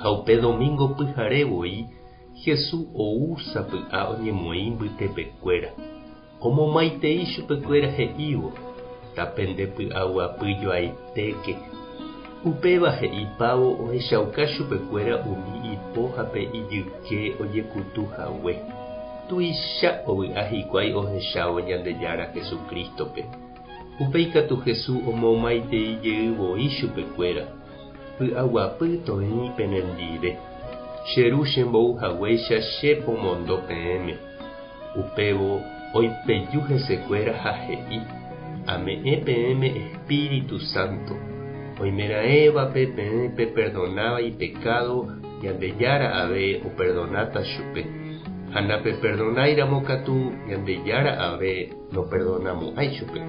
Ha upe domingo pyhare voi Hesu ou sapy'a oñemoĩ mbytepekuéra, omomaitei chupekuéra he'ívo, Tape nde py'aguapy joaitéke. Upéva he'ipávo ohechauka chupekuéra umi ipo ha pe ijyke ojekutu hague. Tuicha ovy'a hikuái ohechávo Ñandejára Jesucristo-pe. Upéi katu Jesús omomaitei jey voi chupekuéra, Py'aguapy toĩ penendive, che Ru chembou haguéicha che pomondo peẽme. Upévo oipeju hesekuéra ha he'i, Ame'ẽ peẽme Espíritu Santo, oimeraẽvape peẽ peperdonáva ipekádo Ñandejára ave operdonáta chupe, ha napeperdonáiramo katu Ñandejára ave Noperdonamo'ãi chupe.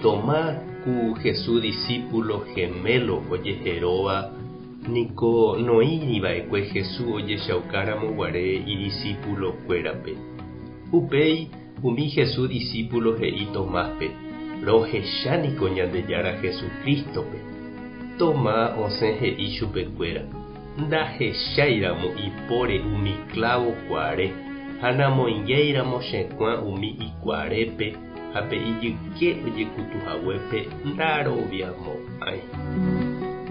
Tomá ku Jesús disípulo gemélo ojeheróva niko noĩri va'ekue Jesús ojechaukáramo guare idisípulokuérape. Upéi umi Jesús disípulo he'i Tomáspe, Rohecha niko Ñandejára Jesucrístope. Tomá osẽ he'i chupekuéra, Ndahecháiramo ipóre umi klávo kuare ha namoingeíramo che kuã umi ikuarépe ha pe ijyke ojekutu haguépe ndaroviamo'ãi.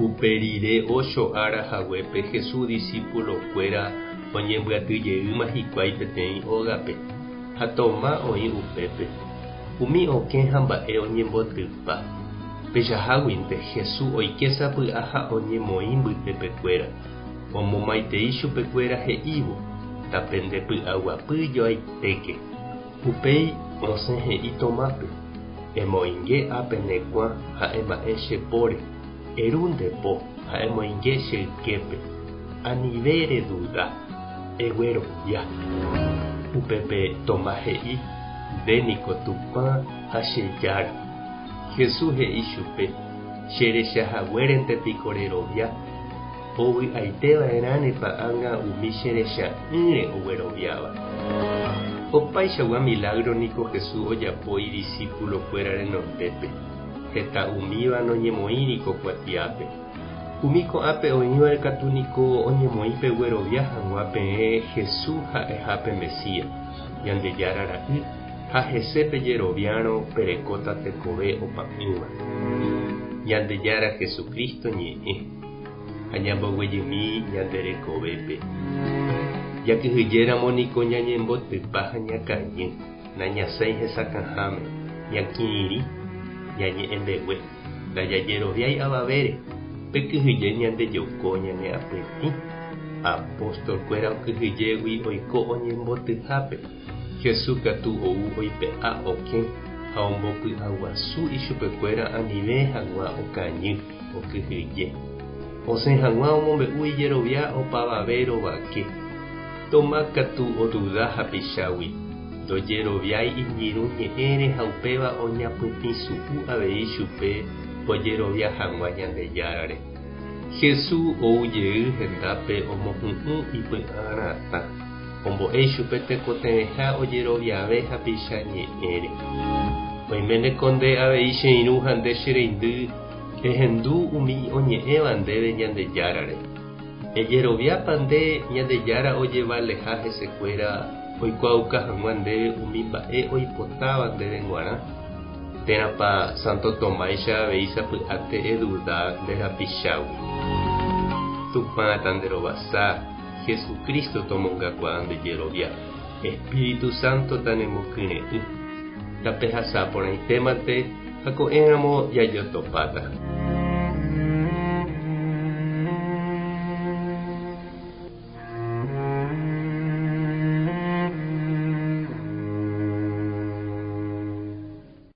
Upe rire ócho ára haguépe Jesús disípulo kuéra oñembyaty jeýma hikuái peteĩ ógape, ha Tomás oĩ upépe. Umi okẽ ha mba'e oñemboty. Mba, pe jaháguinte, Hesu oike sapy'a ha oñemoĩ mbytepekuéra, omomaitei chupekuéra he'ívo, Tape nde py'aguapy joaitéke. Upéi osẽ he'i Tomápe, Emoinge a pene kuã ha ema'ẽ che póre, eru nde po ha emoinge che yképe, anive reduda, eguerovia. Upépe Tomá he'i, Nde niko Tupã. Ha che Jára. Jesús he'i chupe, Che recha haguérente piko rerovia? Povy'aite va'erã nepa ág̃a umi che recha'ỹre ogueroviáva. Opaichagua milágro niko Jesús ojapo idisípulo kuéra renondépe, heta umíva noñemoĩri ko kuatiápe. Umi ko'ápe oĩvare katu niko oñemoĩ peguerovia hag̃ua peẽ Jesús ha'eha pe Mesías, Ñandejára Ra'y. Ha hese pejeroviárõ perekóta tekove opa'ỹva. Ñandejára Jesucristo ñe'ẽ, ha ñamboguejymi ñande rekovépe. Jakyhyjéramo niko ñañembotypa ha ñakañy, nañasẽi hesakãháme, ñakirirĩ, ñañe'ẽ mbegue, ndajajeroviái avavére. Pekyhyje ñande joko ñane apytĩ, ha apóstolkuéra okyhyjégui oiko oñembotyhápe. Jesús katu ou oipe'a okẽ ha ombopy'aguasu ichupekuéra anive hag̃ua okañy, okyhyje. Osẽ hag̃ua omombe'u ijerovia opavave rovake. Tomás katu oduda hapichágui, ndojeroviái iñirũ ñe'ẽre ha upéva oñapytĩ su'u avei chupe ojerovia hag̃ua Ñandejárare. Jesús ou jey hendápe omohu'ũ ipy'arã atã. Ombo'e ichupe tekotevẽha ojeroviave ha péicha ñe'ẽre. Oiméne ko nde avei che irũ ha nde che reindy ehendu umi oñe'ẽva ndéve Ñandejárare. Ejeroviápa nde Ñandejára ojevaleha hesekuéra oikuaauka hag̃ua ndéve umi mba'e oipotáva ndéve g̃uarã? Térãpa Santo Tomáicha avei sapy'ate eduda nde rapichágui? Tupã tanderovasa. Hesu Crísto tomongakuaa nde jerovia, Espíritu Santo tanemokyre'ỹ. Tapehasa porãitémante ha ko'ẽramo jajotopáta.